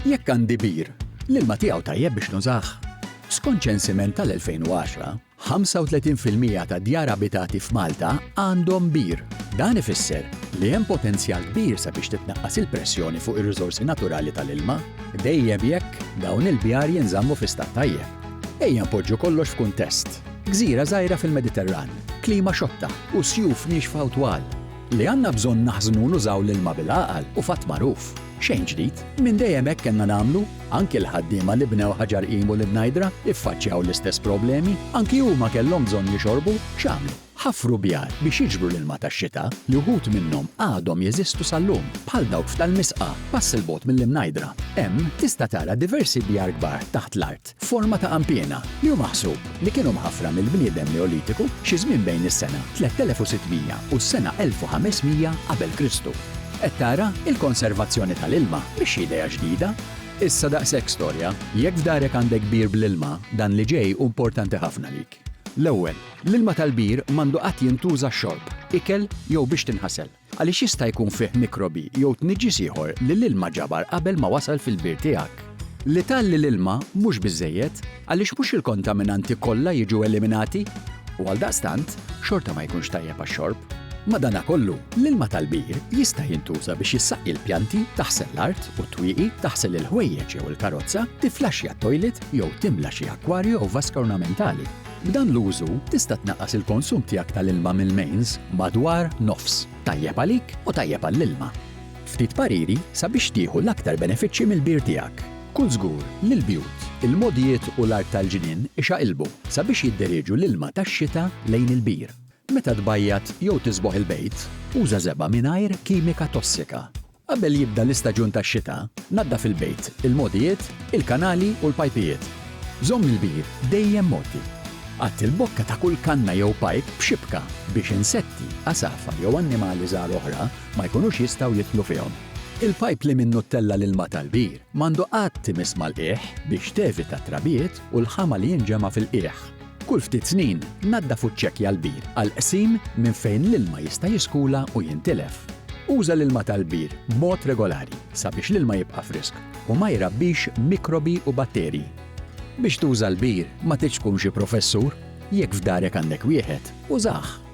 Jekk għandi bir, l-ilma tiegħu tajjeb biex nużah? Skont ċensiment tal-2010, 35 fil-mija tad-djar abitati f'Malta għandhom bir. Dan ifisser li hemm potenzjal kbir sabiex titnaqqas il-pressjoni fuq ir-riżorsi naturali tal-ilma, dejjem jekk dawn il-bjar jinżammu fi stat tajjeb. Ejja npoġġu kollox f'kuntest, gżira żgħira fil-Mediterran, klima xotta u sjuf niexfa u twal. Li għandna bżonn naħżnu u nużaw l-ilma bil-għaqal u fatt magħruf. Xejn ġdid. Minn dejjem hekk kellna nagħmlu. Anki l-ħaddiema li bnew Ħaġar-Qim u l-Ibnajdra iffaċċjaw l-istess problemi. Anki huma kellhom bżonn jixorbu. X'għamlu? Ħaffru bjar biex jiġbru l-ilma tax-xita, li wħud minnhom għadhom jeżistu sal-lum, bħal dawk f'Tal-Misqa, pass 'il bogħod mill-Imnajdra. Hemm, tista' tara diversi bjar kbar taħt l-art. f'forma ta' għampiena, li hu maħsub li kienu mħaffra mill-bniedem Neolitiku xi żmien bejn is-sena 3600 u s-sena 1500 qabel Kristu. Qed tara? Il-konservazzjoni tal-ilma mhix xi idea ġdida. Issa daqshekk storja. Jekk f'darek għandek bir bl-ilma, dan li ġej hu importanti ħafna lik. L-ewwel, l-ilma tal-bir m'għandu qatt jintuża xorb, ikel jew biex tinħasel. għaliex jista' jkun fih mikrobi jew tniġġis ieħor li l-ilma ġabar qabel ma wasal fil-bir tiegħek. L-ital li l-ilma mhux biżżejjed, għaliex mhux il-kontaminanti kollha jiġu eliminati u għaldaqstant xorta ma jkunx tajjeb għax-xorb. Madanakollu, l-ilma tal-bir jista' jintuża biex issaqqi l-pjanti, taħsel l-art u t-twieqi, taħsel il-ħwejjeġ jew il-karozza, tifflaxxja t-toilet jew timla xi akkwarju jew vaska ornamentali. B'dan l-użu tista' tnaqqas il-konsum tiegħek tal-ilma mill-mains madwar nofs. Tajjeb għalik u tajjeb għall-ilma. Ftit pariri sabiex tieħu l-aktar benefiċċji mill-bir tiegħek. Kun żgur li l-bjut, il-mogħdijiet u l-art tal-ġnien ixaqilbu sabiex jidderieġu l-ilma tax-xita lejn il-bir. Meta tbajjad jew tisboħ il-bejt, uża żebgħa mingħajr kimika tossika. Qabel jibda l-istaġun tax-xita, naddaf il-bejt, il-mogħdijiet, il-kanali u l-pajpijiet. Żomm il-bir dejjem mgħoddi. Għatti l-bokka ta' kull kanna jew pajp b'xibka biex insetti, għasafar jew annimali żgħar oħra ma jkunux jistgħu jidħlu fihom. Il-pajp li minnu ttella' l-ilma tal-bir m'għandu qatt imiss mal-qiegħ biex tevita t-trabiet u l-ħama li jinġema' fil-qiegħ. Kull ftit snin, naddaf u ċċekkja l-bir għall-qsim minn fejn l-ilma jista' jiskula u jintilef. Uża l-ilma tal-bir b'mod regolari sabiex l-ilma jibqa' frisk u ma jrabbix mikrobi u batterji. Biex tuża l-bir, ma tridx tkun xi professur. Jekk f'darek għandek wieħed, użah!